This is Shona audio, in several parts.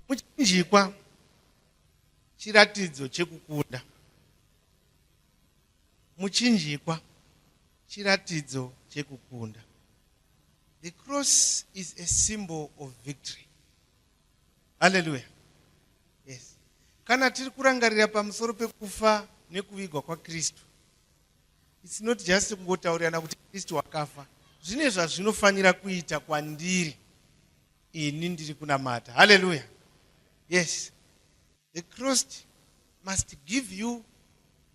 Muchinjikwa chiratidzo chekukunda. Muchinjikwa chiratidzo chekukunda. The cross is a symbol of victory. Hallelujah. Yes. Kana tiri kurangarira pamusoro pekufa nekuvigwa kwaKristu. It's not just kungotaurirana kuti Kristu wakafa. Zvine zvazvinofanira kuita kwandiri. ini ndiri kunamata haleluya yes the crossed must give you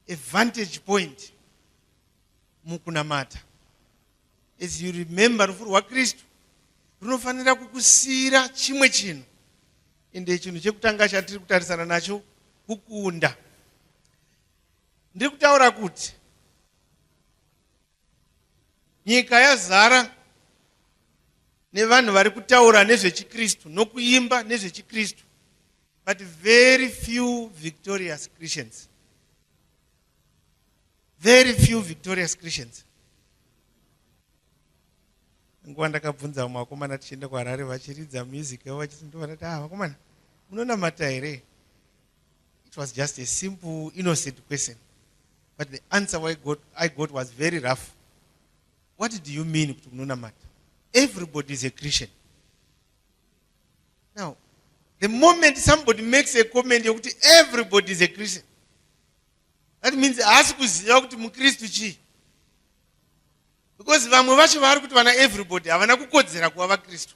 a vantage point mukunamata as you remember rufu rwakristu runofanira kukusiyira chimwe chinhu ende chinhu chekutanga chatiri kutarisana nacho kukunda ndiri kutaura kuti Nyika yazara nevanhu vari kutaura nezvechikristu nokuimba nezvechikristu but very few victorious christians very few victorious christians nguva ndakabvunza vamwe vakomana tichienda kuharare vachiridza music yavo vachiti ndovanati ah vakomana munonamata here It was just a simple innocent question but the answer I got, I got was very rough. What do you mean kuti munonamata? Everybody is a Christian. Now, the moment somebody makes a comment yokuti everybody is a Christian, that means haasi kuziva kuti mukristu chii because vamwe vacho vaari kuti vana everybody havana kukodzera kuva vakristu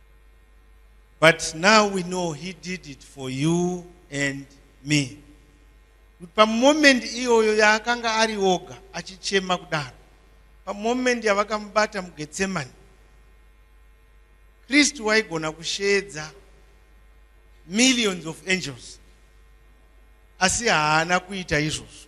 But now we know he did it for you and me. Kuti pamomendi iyoyo yaakanga ari oga achichema kudaro, pamomendi yavakamubata muGetsemani, Kristu waigona kusheedza millions of angels, asi haana kuita izvozvo.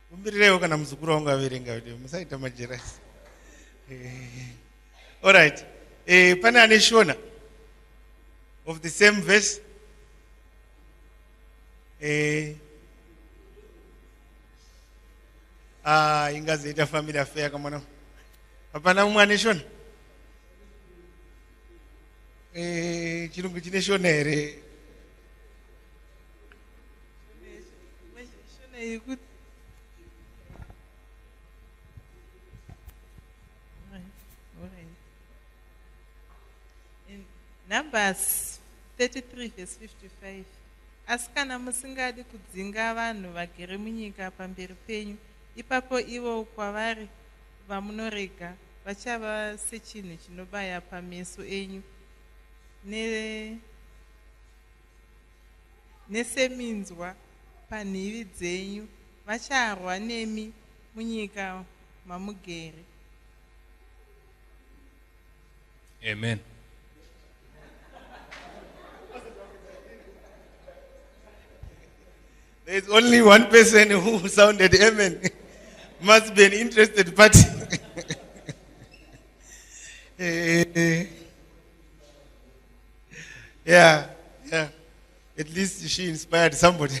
Kumbirireiwo kana muzukuru wangu averenga kuti musaita majerasi. Eh, all right. Eh, pane ane shona of the same verse. Eh, ah, ingazoita family affair kamwana. Hapana umwe ane shona? Eh, chirungu chine shona here? Numbers 33 verse 55 asi kana musingadi kudzinga vanhu vagere munyika pamberi penyu ipapo ivo kwavari vamunorega vachava sechinhu chinobaya pameso enyu ne neseminzwa panhivi dzenyu, vacharwa nemi munyika mamugere. Amen. There's only one person who sounded amen. Must be an interested party. Eh, eh, eh. yeah, yeah. At least she inspired somebody.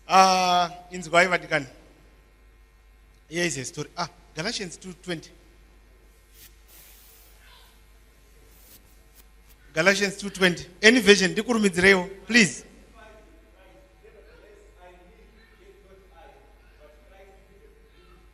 uh, in Zwayi Vatican. Here is a story. Ah, Galatians 2.20. Galatians 2.20. Any version, dikurumidzirewo, please.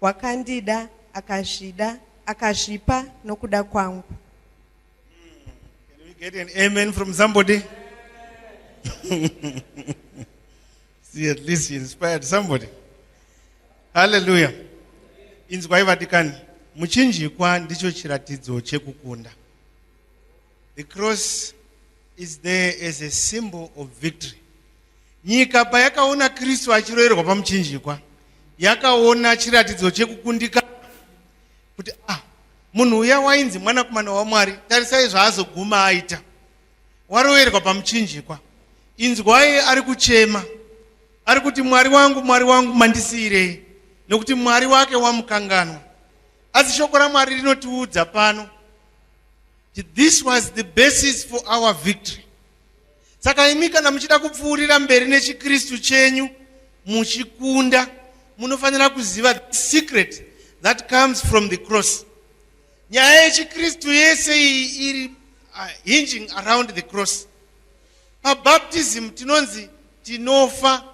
Wakandida, akazvida, akazvipa nokuda kwangu. Can we get an amen from somebody? See, at least you inspired somebody. Hallelujah. Inzwai vadikani, muchinjikwa ndicho chiratidzo chekukunda. The cross is there as a symbol of victory. Nyika payakaona Kristu achiroerwa pamuchinjikwa, yakaona chiratidzo chekukundika kuti ah, munhu uya wainzi mwanakomana waMwari, tarisai zvaazoguma aita. Waroerwa pamuchinjikwa. Inzwai ari kuchema. Ari kuti Mwari wangu, Mwari wangu mandisiirei? Nokuti Mwari wake wamukanganwa. Asi shoko raMwari rinotiudza pano This was the basis for our victory. Saka imi kana muchida kupfuurira mberi nechiKristu chenyu muchikunda munofanira kuziva the secret that comes from the cross. Nyaya yechiKristu yese iyi iri uh, hinging around the cross. PaBaptism tinonzi tinofa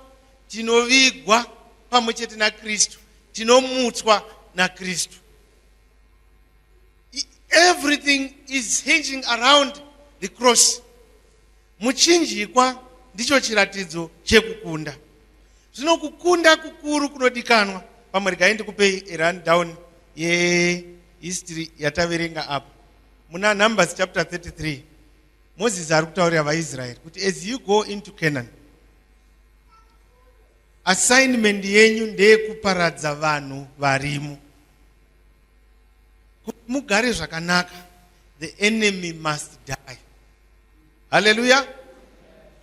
tinovigwa pamwe chete naKristu tinomutswa naKristu. everything is hinging around the cross muchinjikwa ndicho chiratidzo chekukunda zvino kukunda kukuru kunodikanwa pamwe regai ndikupei erundown yehistory yataverenga apa muna numbers chapter 33 moses ari kutaurira vaisraeri kuti as you go into canaan assignment yenyu ndeyekuparadza vanhu varimo kuti mugare zvakanaka the enemy must die haleluya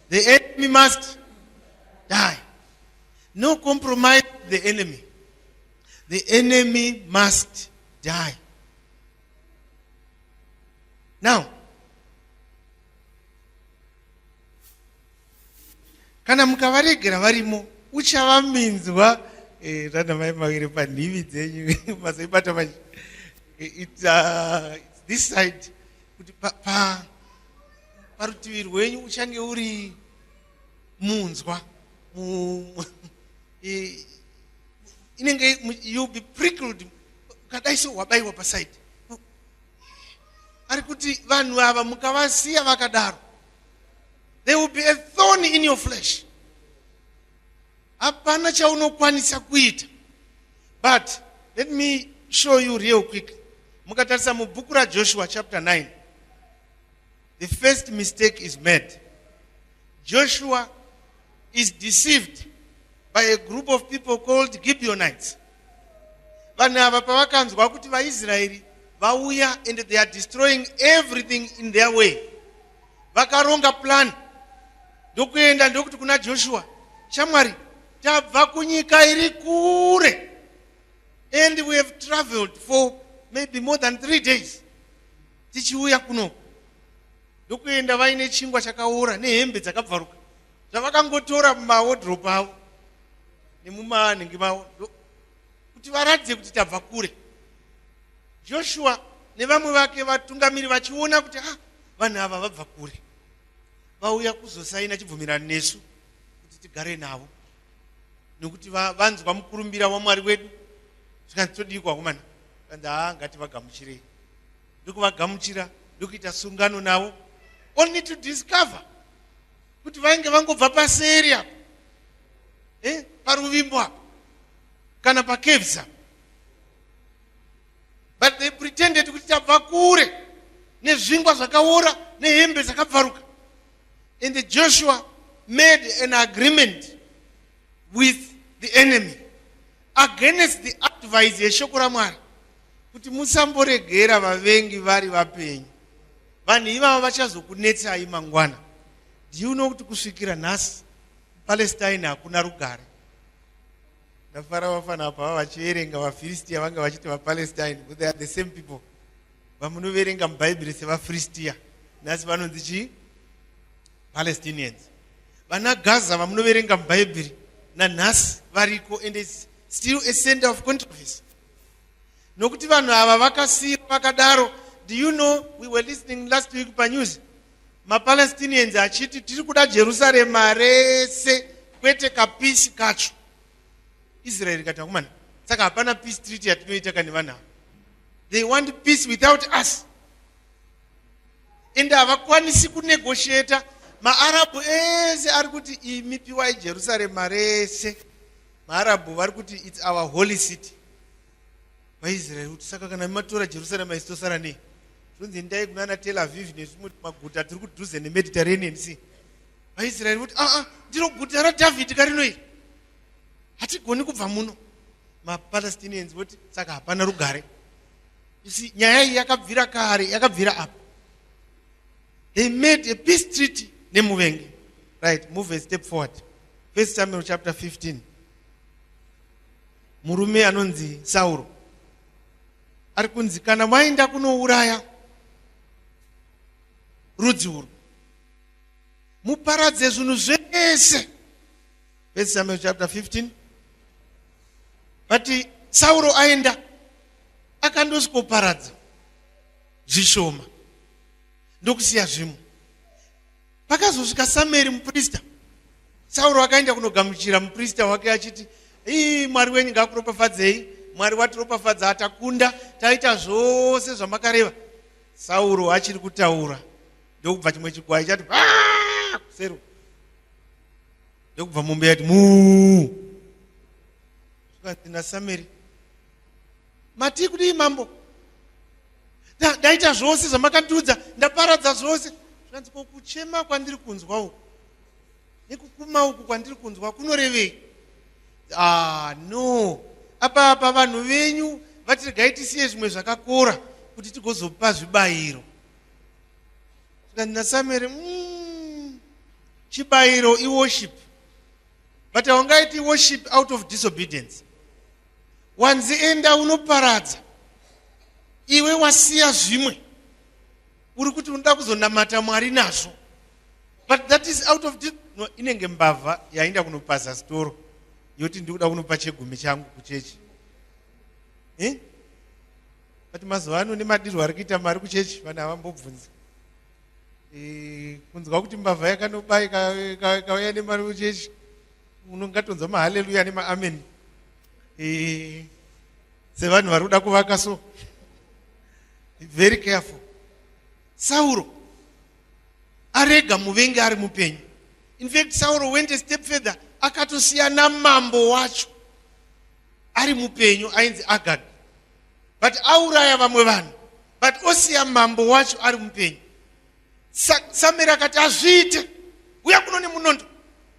the enemy must die no compromise the enemy the enemy must die now kana mukavaregera varimo uchava minzwa eh, rana mai maviri panhivi dzenyu mazoibata manje eh, it's, uh, it's this side kuti pa, pa, parutivi rwenyu uchange uri munzwa mu, eh, inenge you be prickled ukadai so wabaiwa paside ari kuti vanhu ava mukavasiya vakadaro there will be a thorn in your flesh hapana chaunokwanisa kuita but let me show you real quickly mukatarisa mubhuku rajoshua chapter 9 the first mistake is made joshua is deceived by a group of people called gibeonites vanhu ava pavakanzwa kuti vaisraeri vauya and they are destroying everything in their way vakaronga plan ndokuenda ndokuti kuna joshua shamwari tabva kunyika iri kure and we have traveled for maybe more than three days tichiuya kuno ndokuenda vaine chingwa chakaora nehembe dzakabvaruka zvavakangotora mumawodrop avo nemumanhingi mavo kuti varatidze kuti tabva kure joshua nevamwe vake vatungamiri vachiona kuti ah, vanhu ava vabva kure vauya kuzosaina chibvumirano nesu kuti tigare navo nekuti vanzwa mukurumbira wamwari wedu zvikanzi todiiko vakomana kanzi haa ngati vagamuchirei ndokuvagamuchira ndokuita sungano navo only to discover kuti vainge vangobva paseri apo eh, paruvimbo apo kana pacaves apo but they pretended kuti tabva kure nezvingwa zvakaora nehembe dzakabvaruka and joshua made an agreement with the enemy against the advice yeshoko ramwari kuti musamboregera vavengi vari vapenyu vanhu ivavo vachazokunetsai mangwana ndiuno kuti kusvikira nhasi palestine hakuna rugare Ndafara vafana apa vava vachiverenga vaFiristia vange vachiti vaPalestine but they are the same people vamunoverenga muBhaibheri sevaFiristia nhasi vanonzi chii Palestinians vana Gaza vamunoverenga muBhaibheri nanhasi variko and it's still a center of controversy nokuti vanhu ava vakasiirwa vakadaro do you know we were listening last week panews maPalestinians achiti tiri kuda Jerusarema rese kwete kapisi kacho. Israel ikati akomana, saka hapana peace treaty yatinoita kane vanhu ava. They want peace without us. Ende havakwanisi kunegotiata maarabhu ese ari kuti imi piwai Jerusarema rese. Maarabhu vari kuti it's our holy city. vaisraeri kuti saka kana matora jerusarema isi tosara nei zvonzi endai kuna ana tel aviv nezvimwe maguta tiri kudhuze nemediterranean si vaisraeri voti aa ah, ah, ndiro guta radhavhidhi karino iri hatigoni kubva muno mapalestinians voti saka hapana rugare isi nyaya iyi yakabvira kare yakabvira apa they made a peace treaty nemuvengi right move a step forward first samuel chapter 15 murume anonzi sauro ari kunzi kana maenda kunouraya rudzi urwu muparadze zvinhu zvese first samuel chapter 15 vati sauro aenda akandosikoparadza zvishoma ndokusiya zvimwe pakazosvika samueri muprista sauro akaenda kunogamuchira muprista wake achiti ii mwari wenyu ngakuropafadzei mwari watiropafadza atakunda taita zvose zvamakareva sauro achiri kutaura ndokubva chimwe chikwai chati kusero ndokubva mombe yati muu zvikanzi nasameri matii kudii mambo ndaita zvose zvamakandiudza ndaparadza zvose zvikanzi ko kuchema kwandiri kunzwa uku nekukuma uku kwandiri kunzwa kunorevei ah, no apa apa vanhu venyu vatiregai tisiye zvimwe zvakakora kuti tigozopa zvibayiro zvikanzi nasamere mm, chibayiro iworship but haungaiti worship out of disobedience wanzi enda unoparadza iwe wasiya zvimwe uri kuti unoda kuzonamata mwari nazvo but that is out of no, inenge mbavha yainda kunopaza sitoro yoti ndikuda kunopa chegumi changu kuchechi eh? but mazuva ano nemadirwo ari kuita mari kuchechi vanhu havambobvunzi eh, kunzwa kuti mbavha yakanoba ikauya nemari kuchechi unongatonzwa mahaleluya nemaameni eh, sevanhu vari kuda kuvaka so very careful sauro arega muvengi ari mupenyu infact sauro went a step further akatosiya namambo wacho ari mupenyu ainzi agag but auraya vamwe vanhu but osiya mambo wacho ari mupenyu samera akati azviite uya kuno nemunondo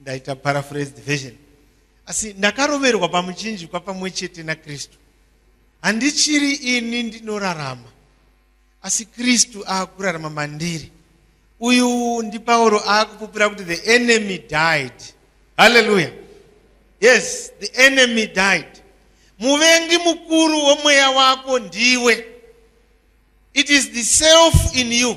ndaita paraphrased version asi ndakaroverwa pamuchinjikwa pamwe chete nakristu handichiri ini ndinorarama asi kristu aakurarama mandiri uyu ndipauro aakupupira kuti the enemy died halleluya yes the enemy died muvengi mukuru womweya wako ndiwe it is the self in you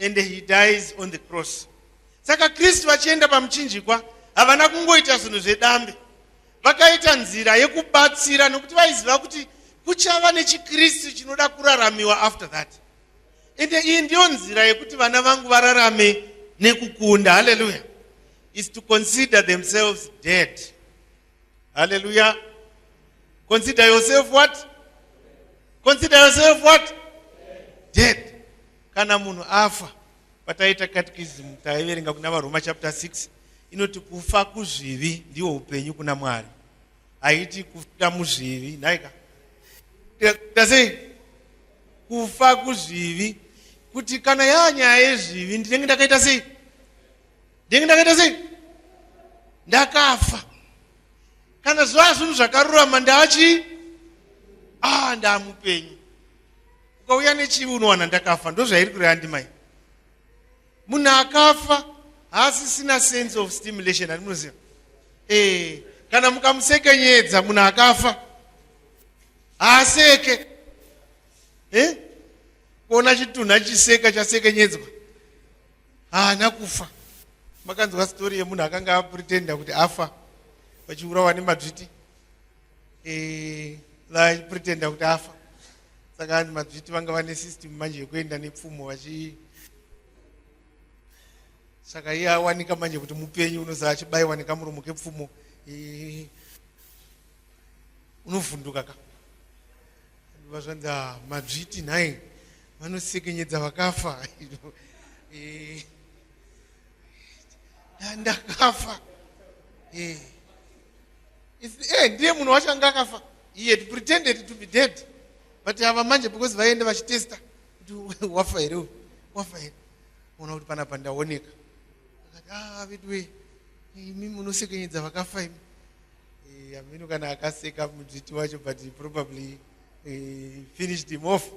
and he dies on the cross saka kristu vachienda pamuchinjikwa havana kungoita zvinhu zvedambe vakaita nzira yekubatsira nokuti vaiziva kuti kuchava nechikristu chinoda kuraramiwa after that ende iyi ndiyo nzira yekuti vana vangu vararame nekukunda halleluya is to consider themselves dead halleluya consider yourself what consider yourself what dead kana munhu afa pataiita catechism taiverenga kuna varoma chapter 6 inoti kufa kuzvivi ndiwo upenyu kuna mwari haiti kufira muzvivi nhaika tasei kufa kuzvivi kuti kana yaa nyaya yezvivi ndinenge ndakaita sei ndinenge ndakaita sei ndakafa kana zvaa zvinhu zvakarurama ndaachi a ah, ndaamupenyu ukauya nechivi unowana ndakafa ndozvairi kureva ndimai munhu akafa haasisina sense of stimulation ani munoziva ee eh, kana mukamusekenyedza munhu akafa haaseke e eh? kuona chitunhu achiseka chasekenyedzwa haana kufa makanzwa stori yemunhu akanga apretenda kuti afa vachiurawa nemadzviti eh, vachipretenda kuti afa saka hanzi madzviti vanga vane system manje yekuenda nepfumo vachi saka iye awanika manje kuti mupenyu unoza achibaiwa nekamuromo kepfumo eh, unovhunduka ka vazvanzi ah, madzviti nhai vanosekenyedza vakafa eh, ndakafa eh. eh, ndiye munhu wacho anga akafa he had pretended to be dead but ava manje because vaiende vachitesta kuti wafa here uyu wafa here ona kuti panapa ndaoneka akati ah veduwe imi munosekenyedza vakafa imi eh, amino kana akaseka mudzviti wacho but probably eh, finished him off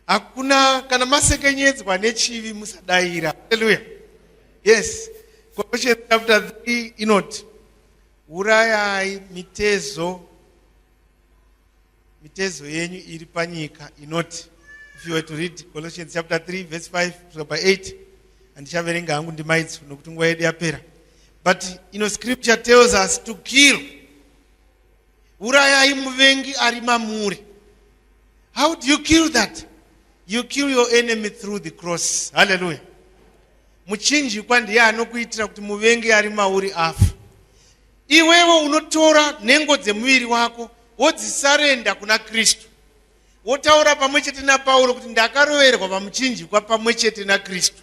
hakuna kana masekenyedzwa nechivi musadaira haleluya yes colossians chapter 3 inoti urayai mitezo mitezo yenyu iri panyika inoti if you were to read colossians chapter 3 verse 5 kusvika pa 8 handichaverenga hangu ndimaidzo nokuti nguva yedu yapera but you know scripture tells us to kill urayai muvengi ari mamuri how do you kill that you kill your enemy through the cross halleluya muchinjikwa ndiye anokuitira kuti muvengi ari mauri afa iwewo unotora nhengo dzemuviri wako wodzisarenda kuna kristu wotaura pamwe chete napauro kuti ndakaroverwa pamuchinjikwa pamwe chete nakristu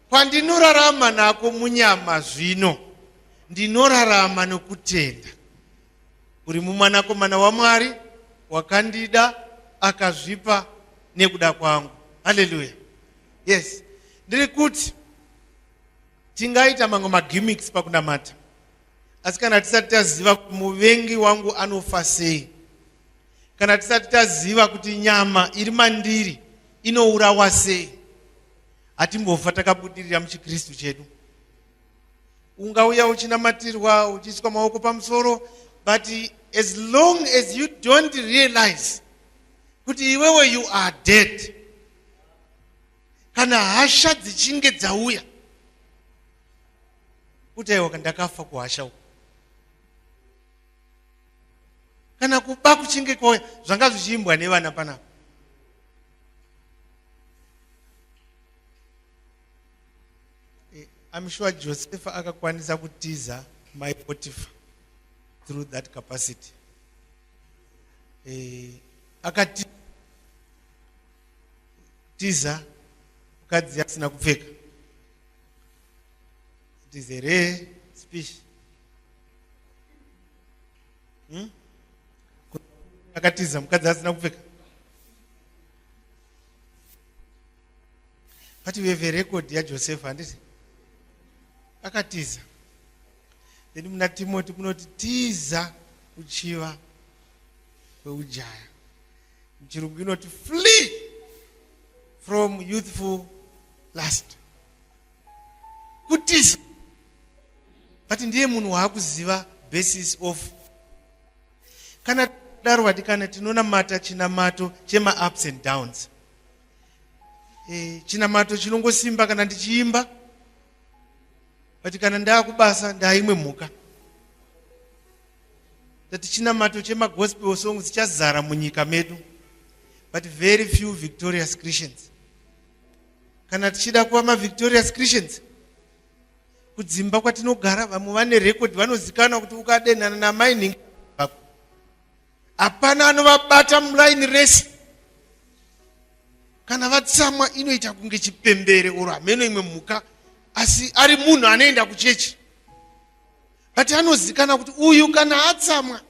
Kwandinorarama nako munyama zvino, ndinorarama nokutenda. Uri mumwanakomana waMwari, wakandida, akazvipa nekuda kwangu. Haleluya. Yes. Ndiri kuti tingaita mamwe magimmicks pakunamata. Asi kana tisati taziva kuti muvengi wangu anofa sei, kana tisati taziva kuti nyama iri mandiri inourawa sei Hatimbofa takabudirira muchiKristu chedu. Ungauya uchinamatirwa uchiiswa maoko pamusoro but as long as you don't realize kuti iwewe you are dead kana hasha dzichinge dzauya kuti aiwa ndakafa kuhasha uku kana kuba kuchinge kwauya zvanga zvichiimbwa nevana panapa Eh, I'm sure Joseph akakwanisa kutiza my Potiphar through that capacity. Eh, akatiza mukadzi asina kupfeka. It is a rare species. hmm? akatiza mukadzi asina kupfeka but we have a record yajosefa handiti akatiza then muna timoti kunoti tiza kuchiva kweujaya muchirungu inoti flee from youthful last kutiza but ndiye munhu waakuziva basis of kana daro vadikana tinonamata chinamato chemaups and downs e, chinamato chinongosimba kana ndichiimba but kana ndaakubasa ndaaimwe mhuka that chinamato chemagospel song chichazara munyika medu but very few victorious christians kana tichida kuva mavictorious christians kudzimba kwatinogara vamwe vane record vanozikanwa kuti ukadenhana namainhingi vako hapana anovabata muraini rese kana vatsamwa inoita kunge chipembere oro hameno imwe mhuka asi ari munhu anoenda kuchechi but anozikana kuti uyu kana atsamwa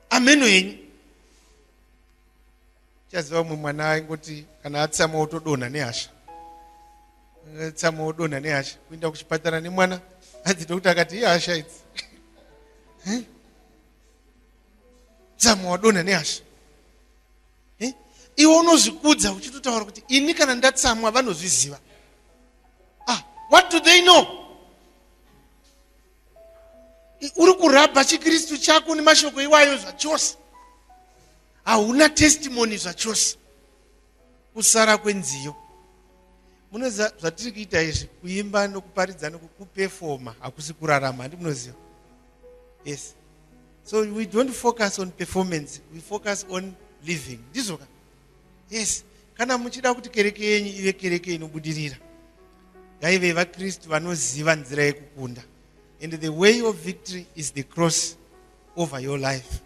ameno henyu chaziva umwe mwana aingoti kana atsamwa otodonha nehasha tsamwa odonha nehasha kuenda kuchipatara nemwana hanzi dokta akati ihasha idzi tsamwa wadonha nehasha iwe unozvikudza uchitotaura kuti ini kana ndatsamwa vanozviziva ah, what do they know uri kurabha chikristu chako nemashoko iwayo zvachose hauna testimony zvachose kusara kwenziyo munoziva zvatiri kuita izvi kuimba nokuparidza nokupefoma hakusi kurarama handi munoziva yes so we don't focus on performance we focus on living ndizvo ka yes kana muchida kuti kereke yenyu ive kereke inobudirira ngaive vakristu vanoziva nzira yekukunda and the way of victory is the cross over your life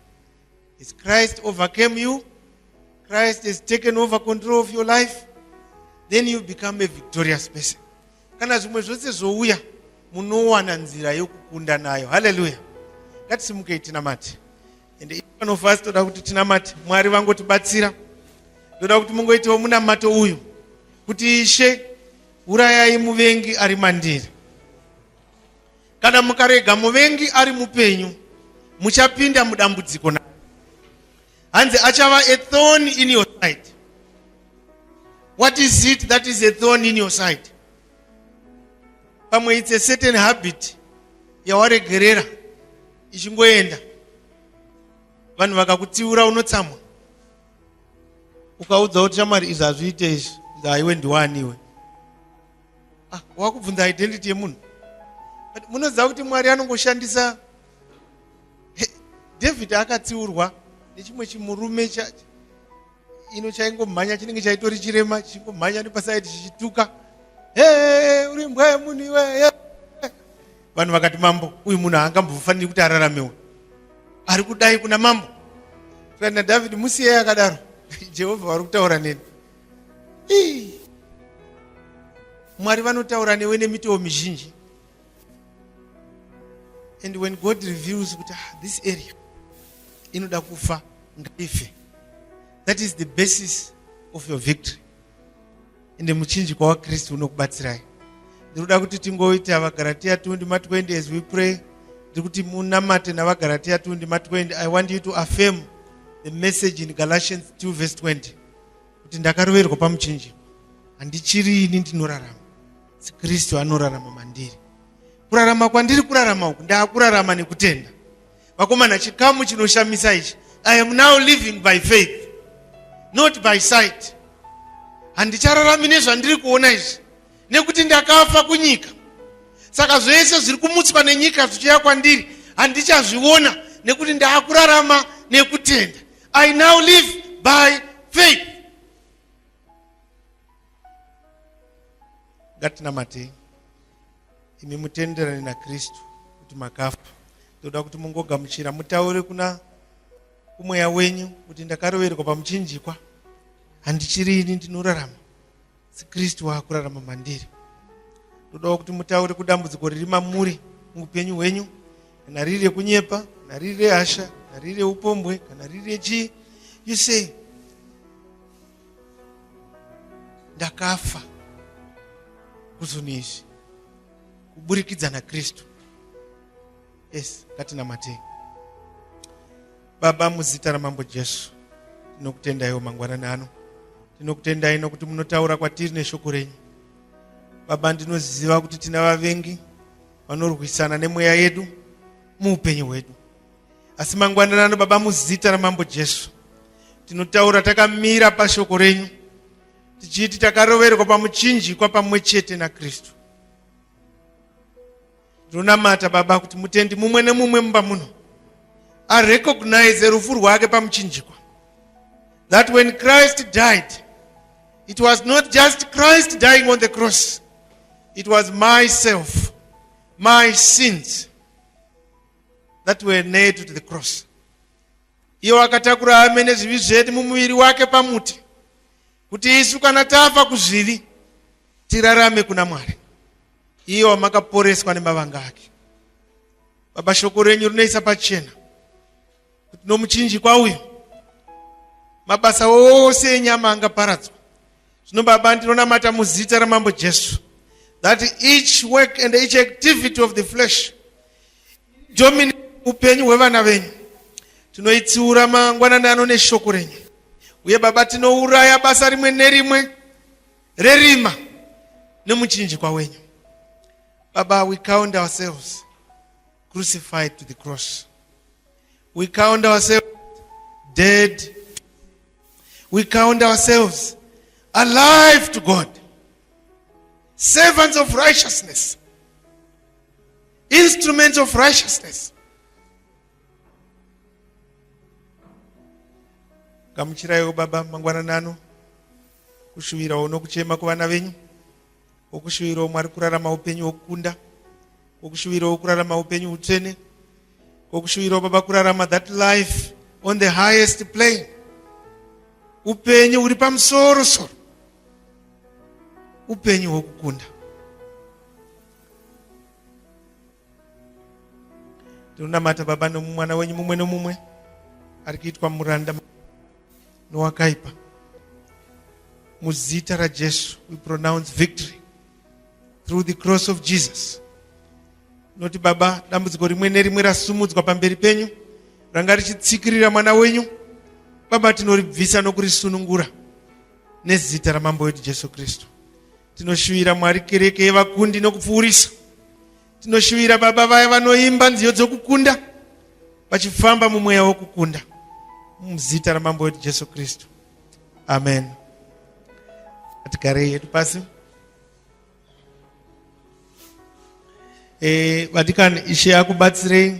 Has Christ overcame you? Christ has taken over control of your life? Then you become a victorious person. Kana zvimwe zvose zvouya, munowana nzira yokukunda nayo. Hallelujah. Ngatisimuke tinamate. And if one of us toda kuti tinamate, Mwari vangotibatsira. Ndoda kuti mungoitawo munamato uyu kuti Ishe urayai muvengi ari mandiri. Kana mukarega muvengi ari mupenyu, muchapinda mudambudziko naye. Hanzi achava a thorn in your side. What is it that is a thorn in your side? Pamwe it's a certain habit yawaregerera ichingoenda vanhu vakakutsiura unotsamwa ukaudza kuti shamwari izvi hazviite izvi ndaiwe ndiwaniwe ah, wakubvunza identity yemunhu but munoziva kuti mwari anongoshandisa david akatsiurwa nechimwe chimurume ino chaingomhanya chinenge chaitori chirema chichingomhanya nepasaidi chichituka hee uri mbwa yemunhu iwe vanhu vakati mambo uyu munhu haangambofaniri kuti araramewo ari kudai kuna mambo kana david musiyei akadaro jehovha vari kutaura neni Ii. mwari vanotaura newe nemitoo mizhinji and when god reveals kuti ah, this area inoda kufa ngaife that is the basis of your victory ende muchinji kwawakristu unokubatsirai ndinoda kuti tingoita vagaratiya 2 ndima 20 as we pray ndiri kuti munamate navagaratiya 2 ndima 20 i want you to affirm the message in galatians 2 verse 20 kuti ndakaroverwa pamuchinjiko handichiri ini ndinorarama asi kristu anorarama mandiri kurarama kwandiri kurarama uku ndaakurarama nekutenda vakomana chikamu chinoshamisa ichi i am now living by faith not by sight handichararami nezvandiri kuona izvi nekuti ndakafa kunyika saka zvese zviri kumutswa nenyika zvichiya kwandiri handichazviona nekuti ndaakurarama nekutenda I now live by faith. Ngatinamatei imi mutenderane naKristu kuti makafa. Toda kuti mungogamuchira mutaure kuna kumweya wenyu kuti ndakaroverwa pamuchinjikwa handichiri ini ndinorarama sikristu waakurarama mandiri ndodawo kuti mutaure kudambudziko riri mamuri muupenyu hwenyu kana riri rekunyepa kana riri rehasha kana riri reupombwe kana riri rechii you say ndakafa kuzunhu izvi kuburikidza nakristu yes ngatinamatei baba muzita ramambo jesu tinokutendaiwo mangwanani ano tinokutendai nokuti munotaura kwatiri neshoko renyu baba ndinoziva kuti tina vavengi vanorwisana nemweya yedu muupenyu hwedu asi mangwanani ano baba muzita ramambo jesu tinotaura takamira pashoko renyu tichiti takaroverwa pamuchinjikwa pamwe chete nakristu ndonamata baba kuti mutendi mumwe nemumwe mumba muno arecognize rufu rwake pamuchinjikwa that when christ died it was not just christ dying on the cross it was myself my sins that were nailed to the cross iwo akatakura amene zvivi zvedu mumuviri wake pamuti kuti isu kana tafa kuzvivi tirarame kuna mwari iye wamakaporeswa nemavanga ake baba shoko renyu rinoisa pachena kuti nomuchinjikwa uyu mabasa ose enyama angaparadzwa zvino baba ndinonamata muzita ramambo jesu that each work and each activity of the flesh domini upenyu hwevana venyu tinoitsiura mangwanani ano neshoko renyu uye baba tinouraya basa rimwe nerimwe rerima nemuchinjikwa wenyu baba we count ourselves crucified to the cross we count ourselves dead we count ourselves alive to god servants of righteousness instruments of righteousness gamuchiraiwo baba mangwanani ano kushuvirawo nokuchema kuvana venyu wokushuvirawo mwari kurarama upenyu wokukunda wokushuvirawo kurarama upenyu utsvene wokushuvirawo baba kurarama that life on the highest plane upenyu huri pamusoro soro upenyu hwokukunda ndinonamata baba nomumwana wenyu mumwe nomumwe ari kuitwa muranda nowakaipa muzita rajesu we pronounce victory through the cross of jesus noti baba dambudziko rimwe nerimwe rasumudzwa pamberi penyu ranga richitsikirira mwana wenyu baba tinoribvisa nokurisunungura nezita ramambo wedu jesu kristu Tinoshuvira Mwari kereke yevakundi nokupfuurisa. Tinoshuvira baba vaya vanoimba nziyo dzokukunda vachifamba mumweya wokukunda muzita ramambo wedu Jesu Kristu. Amen. Atigarei yedu pasi. E, vadikani ishe akubatsirei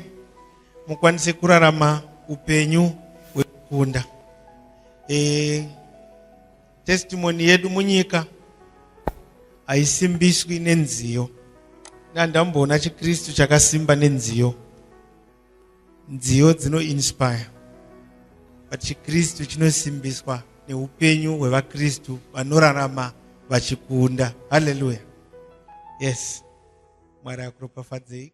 mukwanise kurarama upenyu hwekukunda. E, Testimony yedu munyika haisimbiswi nenziyo. Ndandamboona chiKristu chakasimba nenziyo. Nziyo dzino inspire. But chiKristu chinosimbiswa neupenyu hwevaKristu vanorarama vachikunda. Hallelujah. Yes. Mwari akuropafadzei.